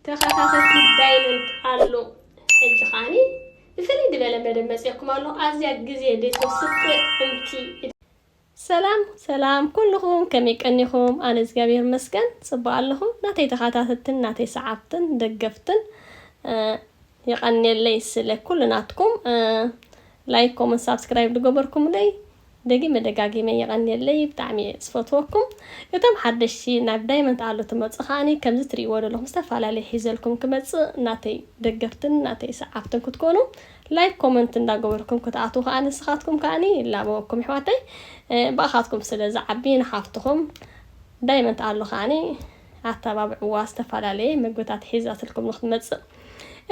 ተኸታተልቲ ዳይመንድ ኣሎ ሕጂ ከዓኒ ብፍልይ ዝበለ መደብ መፅኩም ኣሎ ኣዝያ ግዜ ቤት ወስጥ እምቲ ሰላም ሰላም ኩልኹም ከመይ ቀኒኹም? ኣነ እግዚኣብሔር መስገን ጽቡቅ ኣለኹ። ናተይ ተኸታተልትን ናተይ ሰዓብትን ደገፍትን ይቀኔለይ ስለ ኩሉ ናትኩም ላይክ ኮመንት ሳብስክራይብ ዝገበርኩምለይ ደጊመ ደጋጊመ የቀንየለይ ብጣዕሚ እየ ዝፈትወኩም እቶም ሓደሽቲ ናብ ዳይመንት ኣሎ ትመጹ ከኣ ከምዚ ትሪእዎ ደለኹም ዝተፈላለየ ሒዘልኩም ክመጽእ ናተይ ደገፍትን ናተይ ሰዓብትን ክትኮኑ ላይክ ኮመንት እንዳገበርኩም ክትኣትዉ ከኣ ንስኻትኩም ከኣ ይላበወኩም የሕዋተይ ብኣኻትኩም ስለ ዝዓቢ ንሓፍትኹም ዳይመንት ኣሎ ከኣ ኣተባብዕዋ ዝተፈላለየ ምግብታት ሒዛትልኩም ንክትመጽእ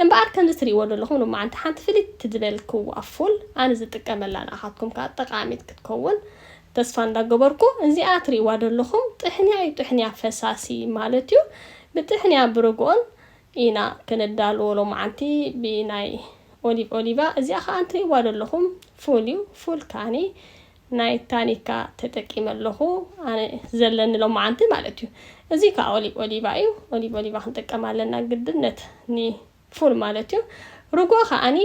እምበኣር ከምዚ ትርእይዎ ዘለኹም ሎማዓንቲ ሓንቲ ፍልይቲ ዝበልክዋ ፉል ኣነ ዝጥቀመላ ንኣኻትኩም ከኣ ጠቃሚት ክትከውን ተስፋ እንዳገበርኩ እዚኣ ትርእይዋ ዘለኹም ጥሕንያ እዩ ጥሕንያ ፈሳሲ ማለት እዩ ብጥሕንያ ብርግኦን ኢና ክነዳልዎ ሎማዓንቲ ብናይ ኦሊቭ ኦሊቫ እዚኣ ከኣ እንትርእይዋ ዘለኹም ፉል እዩ ፉል ከኣ ናይ ታኒካ ተጠቂመ ኣለኹ ኣነ ዘለኒ ሎማዓንቲ ማለት እዩ እዚ ከዓ ኦሊብ ኦሊቫ እዩ ኦሊብ ኦሊቫ ክንጥቀም ኣለና ግድነት ኒ ፉል ማለት እዩ ርጎ ከዓኒ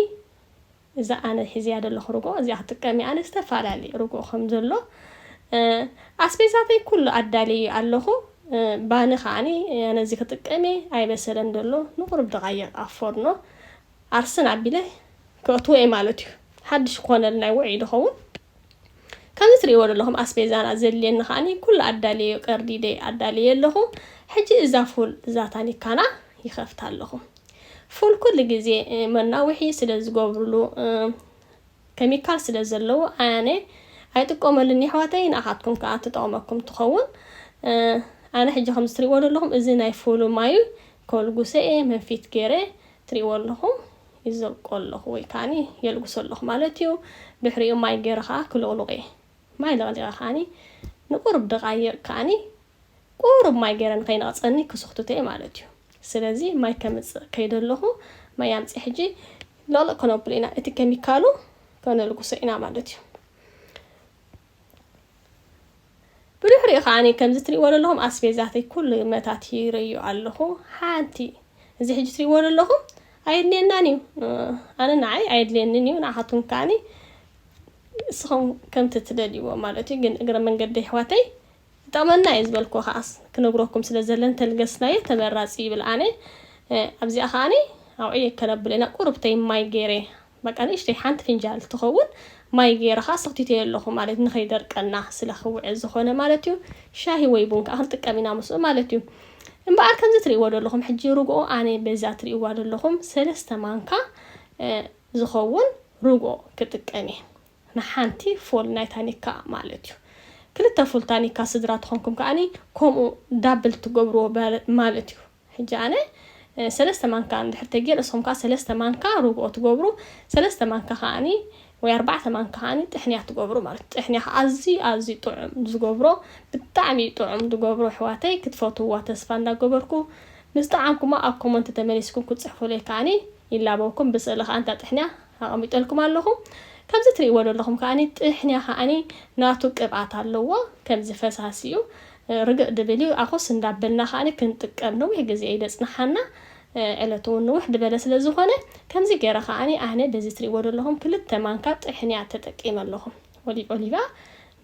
እዛ ኣነ ሒዝያ ዘለኹ ርጎ እዚኣ ክጥቀም እየ ኣነ ዝተፈላለዩ ርጎ ከም ዘሎ ኣስቤዛተይ ኩሉ ኣዳልየ ኣለኹ ባኒ ከዓኒ ኣነ እዚ ክጥቀም እየ ኣይበሰለን ዘሎ ንቁሩብ ደቃይቅ ኣብ ፎርኖ ኣርሰን ኣቢለ ከእትዎ እየ ማለት እዩ ሓድሽ ክኾነል ናይ ውዕይ ድኸውን ከምዚ ትርእይዎ ዘለኹም ኣስቤዛና ዘድልየኒ ከዓኒ ኩሉ ኣዳልየዮ ቀርዲደ ኣዳልየ ኣለኹ ሕጂ እዛ ፉል እዛ ታኒካና ይኸፍታ ኣለኹ ፉል ኩሉ ግዜ መናውሒ ስለ ዝገብርሉ ከሚካል ስለ ዘለዎ ኣነ ኣይጥቀመሉን የሕዋተይ ንኣኻትኩም ከዓ ትጠቕመኩም ትኸውን ኣነ ሕጂ ከምዚ ትርእይዎ ዘለኹም እዚ ናይ ፉሉ ማዩ ከልጉሰ እየ መንፊት ገይረ ትሪእዎ ኣለኹም ይዘልቆ ኣለኹ ወይ ከዓኒ የልግሶ ኣለኹ ማለት እዩ ድሕሪኡ ማይ ገይረ ከኣ ክልቕሉቕ እየ ማይ ለቕሊቐ ከዓኒ ንቁሩብ ደቓይቕ ከዓኒ ቁሩብ ማይ ገይረ ንኸይነቕጸኒ ክስኽትቶ እየ ማለት እዩ ስለዚ ማይ ከምጽእ ከይደ ኣለኹ ማይ ኣምጺ ሕጂ ለቕልቕ ከነብሎ ኢና እቲ ከሚካሉ ከነልግሶ ኢና ማለት እዩ። ብድሕሪኡ ከዓኒ ከምዚ ትሪእዎ ዘለኹም ኣስቤዛተይ ኩሉ መታቲረዮ ኣለኹ ሓንቲ እዚ ሕጂ ትሪእዎ ዘለኹም ኣየድልየናን እዩ ኣነ ንዓይ ኣየድልየንን እዩ ንዓኻትኩም ከዓኒ ንስኹም ከምቲ ትደልይዎ ማለት እዩ ግን እግረ መንገዲ ኣሕዋተይ ዝጠቅመና እየ ዝበልክዎ ከኣስ ክነግረኩም ስለ ዘለኒ ተልገስናዮ ተመራጺ እዩ ይብል ኣነ ኣብዚኣ ከኣ ኣውዕየ ከነብሎ ኢና ቁርብተይ ማይ ገይረ በቃ ንእሽተይ ሓንቲ ፍንጃል ትኸውን ማይ ገይረ ከኣ ሰኽቲተዮ ኣለኹ ማለት ንኸይደርቀና ስለ ክውዕል ዝኾነ ማለት እዩ ሻሂ ወይ ቡን ከኣ ክንጥቀም ኢና ምስኡ ማለት እዩ እምበኣር ከምዚ ትርእይዎ ዘለኹም ሕጂ ርግኦ ኣነ በዛ ትርእይዋ ዘለኹም ሰለስተ ማንካ ዝኸውን ርግኦ ክጥቀም እየ ንሓንቲ ፉል ናይ ታኒካ ማለት እዩ። ክልተ ፉል ታኒካ ስድራ ተኾንኩም ከኣ ከምኡ ዳብል ትገብርዎ ማለት እዩ። ሕጂ ኣነ ሰለስተ ማንካ እንድሕር ተጌረ ንስኹም ከኣ ሰለስተ ማንካ ርብኦ ትገብሩ ሰለስተ ማንካ ከኣ ወይ ኣርባዕተ ማንካ ከኣ ጥሕንያ ትገብሩ ማለት እዩ። ጥሕንያ ከኣ ኣዝዩ ኣዝዩ ጥዑም ዝገብሮ ብጣዕሚ እዩ ጥዑም ዝገብሮ ኣሕዋተይ ክትፈትውዋ ተስፋ እንዳገበርኩ ምስ ጠዓምኩማ ኣብ ኮሞንቲ ተመሊስኩም ክትጽሕፉለይ ከኣ ይላበወኩም ብስእሊ ከኣ እንታ ጥሕንያ ኣቐሚጠልኩም ኣለኹ። ከምዚ ትርእይዎ ዘለኹም ከኣ ጥሕንያ ከኣ ናቱ ቅብኣት ኣለዎ። ከምዚ ፈሳሲ እዩ። ርግእ ድብል እዩ። ኣኹስ እንዳበልና ከኣ ክንጥቀም ነዊሕ ግዜ እዩ ዘጽንሓና። ዕለቱ እውን ንውሕ ድበለ ስለ ዝኾነ ከምዚ ገይረ ከኣ ኣነ በዚ ትርእይዎ ዘለኹም ክልተ ማንካ ጥሕንያ ተጠቂመ ኣለኹ። ኦሊቭ ኦሊቫ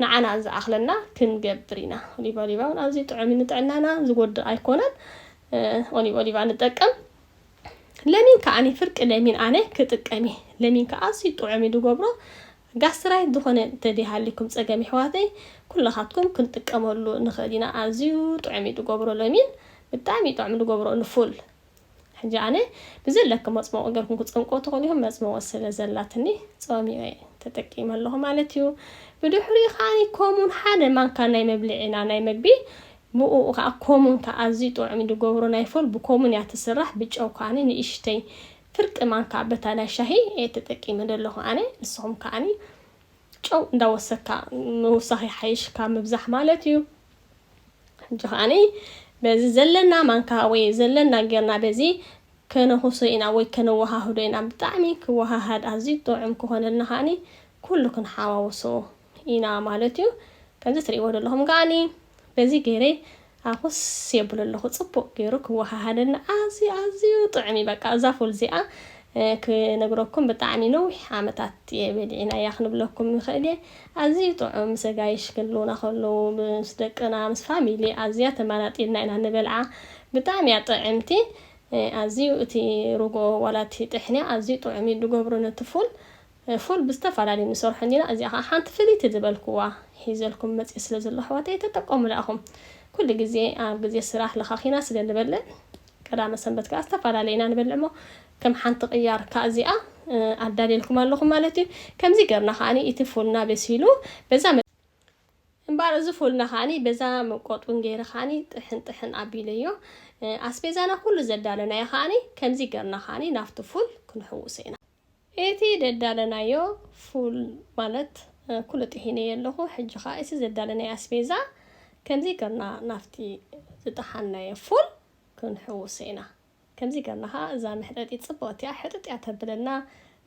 ንዓና ዝኣኽለና ክንገብር ኢና። ኦሊቭ ኦሊቫ እውን ኣዝዩ ጥዑም እዩ ንጥዕናና ዝጎድእ ኣይኮነን። ኦሊቭ ኦሊቫ ንጠቀም። ለሚን ከኣኒ ፍርቂ ለሚን ኣነ ክጥቀም እየ ለሚን ከኣ ኣዝዩ ጥዑም እዩ ዝገብሮ ጋስትራይት ዝኾነ እንተዘይሃሊኩም ጸገም የሕዋተይ ኩላኻትኩም ክንጥቀመሉ ንኽእል ኢና ኣዝዩ ጥዑም እዩ ዝገብሮ ለሚን ብጣዕሚ እዩ ጥዑም ዝገብሮ ንፉል ሕጂ ኣነ ብዘለኪ መፅመቁ ገርኩም ክፀምቁ ትኽእሉ ኢኹም መፅመቁ ስለ ዘላትኒ ፀሚቀ ተጠቂመ ኣለኹ ማለት እዩ ብድሕሪኡ ከዓኒ ኮሙን ሓደ ማንካ ናይ መብልዒና ናይ መግቢ ብኡኡ ከኣ ኮሙን ከኣ ኣዝዩ ጥዑም እዩ ድገብሮ ናይ ፎል ብኮሙን እያ ትስራሕ ብጨው ከኣ ንእሽተይ ፍርቂ ማንካ በታ ናይ ሻሂ እየ ተጠቂመ ደለኩ ኣነ ንስኩም ከኣ ጨው እንዳወሰካ ምውሳክ ይሓይሽ ካብ ምብዛሕ ማለት እዩ ሕጂ ከኣ በዚ ዘለና ማንካ ወይ ዘለና ጌርና በዚ ከነኩሶ ኢና ወይ ከነወሃህዶ ኢና ብጣዕሚ ክወሃሃድ ኣዝዩ ጥዑም ክኮነልና ከኣ ኩሉ ክንሓዋውሶ ኢና ማለት እዩ ከምዚ ትሪእዎ ዘለኹም ከዓኒ በዚ ገይረ ኣኹስ የብሎ ኣለኹ ጽቡቅ ገይሩ ክወሃሃደኒ ኣዝዩ ኣዝዩ ጥዑም እዩ በቃ እዛ ፉል እዚኣ ክነግረኩም ብጣዕሚ ነዊሕ ዓመታት እየ በሊዕናያ ክንብለኩም ይኽእል እየ ኣዝዩ ጥዑም ምስ ኣጋይሽ ክህልውና ከለዉ ምስ ደቅና ምስ ፋሚሊ ኣዝያ ተመራጢልና ኢና ንበልዓ ብጣዕሚ እያ ጥዕምቲ ኣዝዩ እቲ ርጎ ዋላ እቲ ጥሕንያ ኣዝዩ ጥዑም እዩ ዝገብሩ ነቲ ፉል ፉል ብዝተፈላለዩ ንሰርሖ እንዲና እዚኣ ከኣ ሓንቲ ፍልይቲ ዝበልክዋ ሒዘልኩም መጽየ ስለ ዘለኩ ኣሕዋተይ ተጠቀሙላ ኢኩም ኩሉ ግዜ ኣብ ግዜ ስራሕ ለካኪና ስለ ንበልዕ ቀዳመ ሰንበት ከኣ ዝተፈላለየ ኢና ንበልዕ እሞ ከም ሓንቲ ቅያር ከኣ እዚኣ ኣዳልየልኩም ኣለኩ ማለት እዩ ከምዚ ገርና ከኣ እቲ ፉልና በሲሉ በዛ እምበኣር እዚ ፉልና ከኣ በዛ መቆጡን ገይረ ከኣ ጥሕን ጥሕን ኣቢለዮ ኣስቤዛና ኩሉ ዘዳለናዮ ከኣ ከምዚ ገርና ከኣ ናብቲ ፉል ክንሕውሶ ኢና። እቲ ደዳለናዮ ፉል ማለት ኩሉ ጥሒነዮ ኣለኹ ሕጂ ከኣ እቲ ዘዳለናዮ ኣስቤዛ ከምዚ ገርና ናብቲ ዝጠሓንናዮ ፉል ክንሕውሶ ኢና ከምዚ ገርና ከኣ እዛ መሕጠጢት ጽብቕቲ እያ ሕጥጥ እያ ተብለና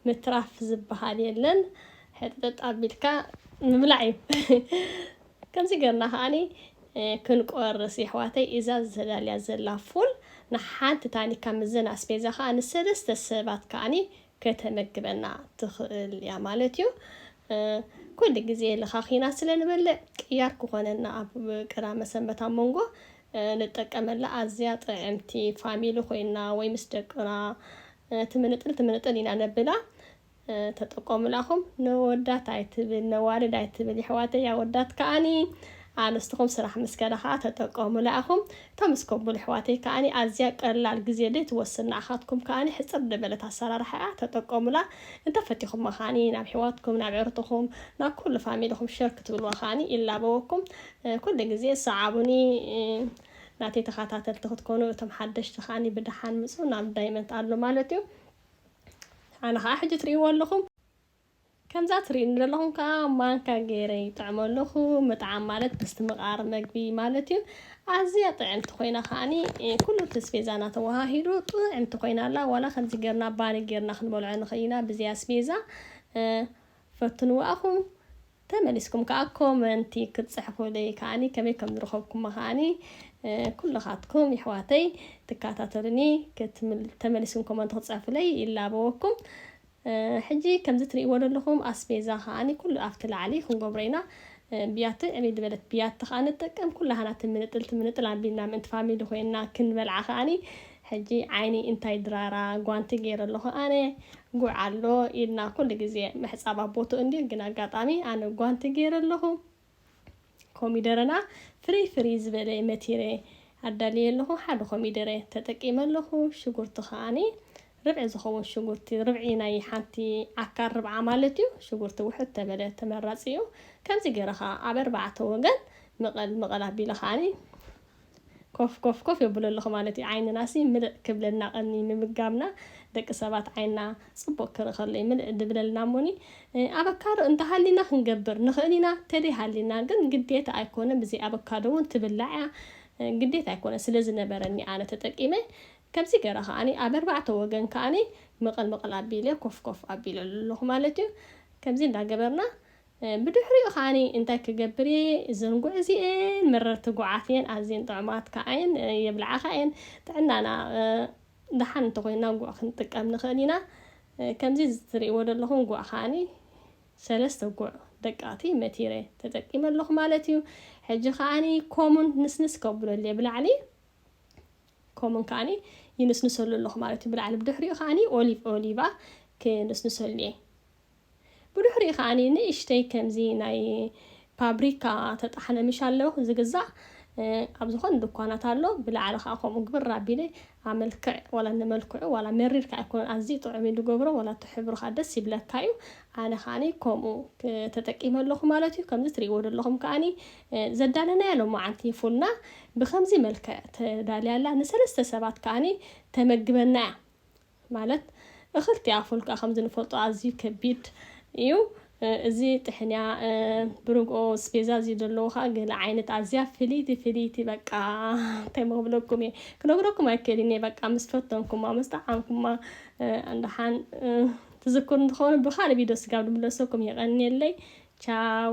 ምትራፍ ዝብሃል የለን ሕጥጥጥ ኣቢልካ ምብላዕ እዩ። ከምዚ ገርና ከኣኒ ክንቆርስ የሕዋተይ እዛ ተዳልያ ዘላ ፉል ንሓንቲ ታኒካ ምዘን ኣስፔዛ ከኣ ንሰለስተ ሰባት ከኣኒ ከተመግበና ትክእል እያ ማለት እዩ ኩሉ ግዜ ለኻኺና ስለ ንበልዕ ቅያር ክኮነና ኣብ ቅዳመ ሰንበት ኣብ መንጎ ንጠቀመላ ኣዝያ ጥዕምቲ ፋሚሊ ኮይና ወይ ምስ ደቅና ትምንጥል ትምንጥል ኢና ነብላ ተጠቆሙላ ኣኹም ነወዳት ኣይትብል ነዋልድ ኣይትብል የሕዋተይ ኣወዳት ከኣኒ ኣንስትኹም ስራሕ ምስ ከዳ ከኣ ተጠቆሙላ ኣኹም እታ ምስ ኮቡል የሕዋተይ ከኣኒ ኣዝያ ቀላል ግዜ ደይ ትወስድ ንኣኻትኩም ከኣኒ ሕጽር ደበለት ኣሰራርሓ እያ ተጠቆሙላ እንተ ፈቲኹማ ከኣኒ ናብ ኣሕዋትኩም ናብ ዕርትኹም ናብ ኩሉ ፋሚልኹም ሸር ክትብልዋ ከኣኒ ይላበወኩም ኩሉ ግዜ ሰዓቡኒ ናተይ ተኻታተልቲ ክትኮኑ እቶም ሓደሽቲ ከኣኒ ብደሓን ምጹ ናብ ዳይመንት ኣሎ ማለት እዩ ኣነ ከዓ ሕጂ ትርእይዎ ኣለኹም ከምዛ ትርእዩኒ ዘለኹም ከዓ ማንካ ገይረ ይጥዕሞ ኣለኹ ምጥዓም ማለት ምስትምቓር መግቢ ማለት እዩ ኣዝያ ጥዕምቲ ኮይና ከዓኒ ኩሉ እቲ ስፔዛና ተወሃሂዱ ጥዕምቲ ኮይና ኣላ ዋላ ከምዚ ጌርና ባኒ ጌርና ክንበልዖ ንኽእል ኢና ብዘይ ኣስቤዛ ፈትንዎ ኣኹም ተመሊስኩም ከኣ ኮመንቲ ክትጽሕፉለይ ከኣ ከመይ ከም ዝረኸብኩማ ከኣ ኩልኻትኩም የሕዋተይ ትከታተሉኒ ተመሊስኩም ኮመንቲ ክትጽሕፉለይ ይላበወኩም። ሕጂ ከምዚ ትርእይዎ ዘለኹም ኣስቤዛ ከኣ ኩሉ ኣብቲ ላዕሊ ክንገብሮ ኢና። ብያቲ ዕብይ ዝበለት ብያቲ ከኣ ንጥቀም ኩላህና ትምንጥል ትምንጥል ኣቢልና ምእንቲ ፋሚሊ ኮይና ክንበልዓ ከኣ ሕጂ ዓይኒ እንታይ ድራራ ጓንቲ ጌረ ኣለኹ ኣነ ጉዕ ኣሎ ኢድና ኩሉ ግዜ ምሕጻብ ኣብ ቦትኡ እንድዩ ግን ኣጋጣሚ ኣነ ጓንቲ ጌረ ኣለኹ ኮሚደረና ፍርይ ፍርይ ዝበለ መቲረ ኣዳልየ ኣለኹ ሓደ ኮሚደረ ተጠቂመ ኣለኹ ሽጉርቲ ከኣ ርብዒ ዝኸውን ሽጉርቲ ርብዒ ናይ ሓንቲ ዓካር ርብዓ ማለት እዩ ሽጉርቲ ውሕድ ተበለ ተመራጺ እዩ ከምዚ ጌረ ከኣ ኣብ ኣርባዕተ ወገን ምቐል ምቐል ኣቢለ ከኣ ኮፍ ኮፍ ኮፍ የብሎ ኣለኹ ማለት እዩ ዓይንናሲ ምልእ ክብለልና ቀኒ ምምጋብና ደቂ ሰባት ዓይንና ጽቡቅ ክርኢ ከሎ እዩ ምልእ ድብለልና እሞኒ ኣበካዶ እንተሃሊና ክንገብር ንኽእል ኢና ተደይ ሃሊና ግን ግዴታ ኣይኮነን ብዘይ ኣበካዶ እውን ትብላዕ እያ ግዴታ ኣይኮነን ስለ ዝነበረኒ ኣነ ተጠቂመ ከምዚ ገረ ከዓኒ ኣብ ኣርባዕተ ወገን ከዓኒ ምቕል ምቕል ኣቢለ ኮፍ ኮፍ ኣቢለ ኣለኹ ማለት እዩ ከምዚ እንዳገበርና ብድሕሪኡ ከኣ እንታይ ክገብር እየ ዘንጉዕ እዚኤን መረርቲ ጉዓት እየን ኣዝየን ጥዑማት ከኣ እየን የብልዓኻ እየን ጥዕናና ደሓን እንተኾይና ጉዕ ክንጥቀም ንኽእል ኢና ከምዚ ዝትርእይዎ ዘለኹም ጉዕ ከኣ ሰለስተ ጉዕ ደቀቕቲ መቲረ ተጠቂመ ኣለኹ ማለት እዩ ሕጂ ከኣ ኮሙን ንስንስ ከብለለየ ብላዕሊ ኮሙን ከኣ ይንስንሰሉ ኣለኹ ማለት እዩ ብላዕሊ ብድሕሪኡ ከኣ ኦሊቭ ኦሊቫ ክንስንሰሉ እየ ብድሕሪኡ ከኣ ንእሽተይ ከምዚ ናይ ፓብሪካ ተጣሕነ ምሻለ ዝግዛእ ኣብ ዝኾነ ድኳናት ኣሎ ብላዕሊ ከኣ ከምኡ ግብር ኣቢለ ኣብ መልክዕ ዋላ ንመልክዑ ዋላ መሪር ከኣ ኣይኮነን ኣዝዩ ጥዑም እዩ ዝገብሮ ዋላ እቲ ሕብሩ ከኣ ደስ ይብለካ እዩ ኣነ ከኣ ከምኡ ተጠቂመ ኣለኹ ማለት እዩ ከምዚ ትሪእዎ ዘለኹም ከኣ ዘዳለናያ ሎማዓንቲ ፉልና ብከምዚ መልክዕ ተዳልያ ኣላ ንሰለስተ ሰባት ከኣ ተመግበና እያ ማለት እኽልቲ ኣፉን ከኣ ከምዚ ንፈልጦ ኣዝዩ ከቢድ እዩ። እዚ ጥሕንያ ብርግኦ ስፔዛ እዚ ዘለዎ ከኣ ገለ ዓይነት ኣዝያ ፍልይቲ ፍልይቲ በቃ እንታይ ክብለኩም እየ ክነግረኩም ኣይክእልን እየ በቃ ምስ ፈተንኩማ ምስ ጠዓምኩማ እንዳሓን ትዝክሩ እንትኸውን ብካልእ ቪድዮ ስጋብ ድምለሰኩም የቐንየለይ ቻው